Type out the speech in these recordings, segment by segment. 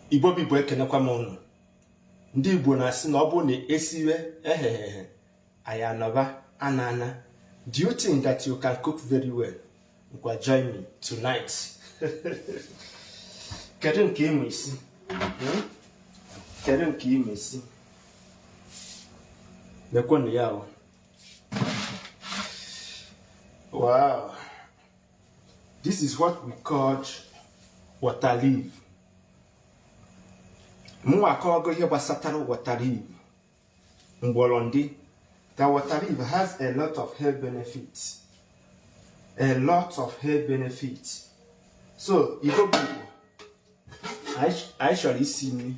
igbo bụ igbo ekenekwa m ụnụ ndị igbo na-asị na ọ bụrụ na esiwe eghe eghe anyị anọba ana ana do you think that you can cook very well ngwa join me tonight kedu nke ịma isi hmm? kedu nke ịma isi lekwenụ ya ahụ Wow. This is what we call water leaf. Mụnwa akọwago ihe gbasatara water leaf. Mgbọrọndị. That water leaf has a lot of health benefits. A lot of health benefits. So, Igbo people, I, I shall see me.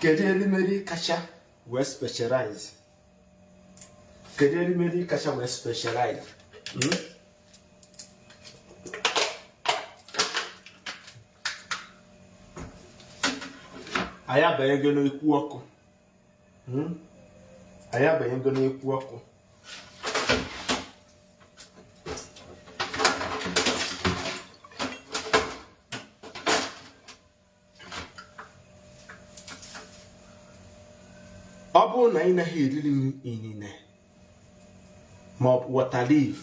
kedu erimeri kacha wee specialize kedu erimeri kacha wee specialize hmm? anyị abanyego n'ekwu ọkụ hmm? anyị abanyego n'ekwu ọkụ ọ bụrụ na ị naghị eriri m inine maọbụ water leaf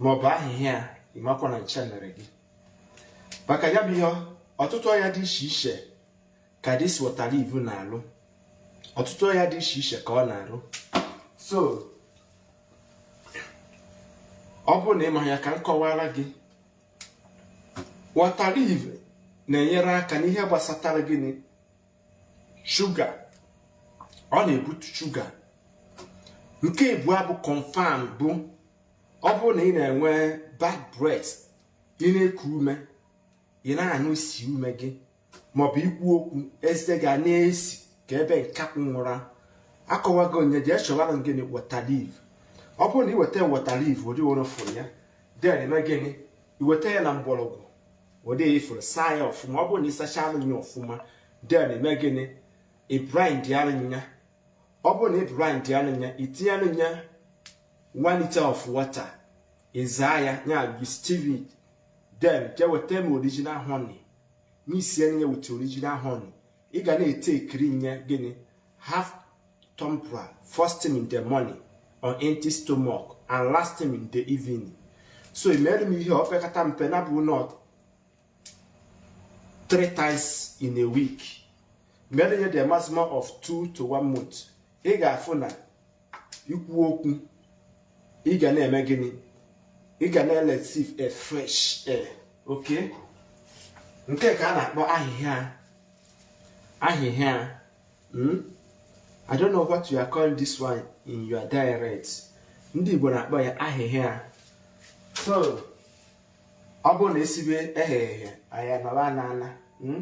maọbụ ahịhịa ịmakwa na ncha mere gị maka ya bụ ihe ọtụtụ ọya dị iche iche ka this water leaf na-alụ ọtụtụ ọya dị iche iche ka ọ na-alụ so ọ bụrụ na ịma ya ka m kọwara gị water leaf na-enyere aka n'ihe gbasatara gịnị sugar ọ na-ebutu sugar nke abụọ bụ confam bụ ọ bụrụ na ị na-enwe bad breath ị na-eku ume ị na-anụ isi ume gị maọbụ ikwu okwu eze ga na-esi ka ebe nkakwụ nwụra akọwago onye jee chọwara gịnị water leaf ọ bụrụ na iweta water leaf ụdị were fụrụ ya then ime gịnị iweta ya na mgbọrọgwụ ụdị ifụrụ saa ya ọfụma ọ bụrụ na ịsacha arụ ya ọfụma then ime gịnị i blend arụ ya ọ bụrụ na i blend arụ ya itinye arụ ya one liter of water ịzaa ya ya you sieve it then jee weta m original honey mixie ya with original honey ị ga na-etekiri nye gịnị half tumbler first thing in the morning on empty stomach and last thing in the evening so imere m ihe opekata mpe na bụ not three times in a week mere ihe the maximum of two to one month ị ga-afụ na ikwu okwu ị ga na-eme gịnị ị ga na-ereceive a fresh air okay nke ka a na-akpọ ahịhịa ahịhịa hmm? I don't know what you are calling this one in your dialect ndị Igbo na-akpọ ya ahịhịa so ọ bụrụ na esibe eghe eghe anyị anọba ana ana hmm?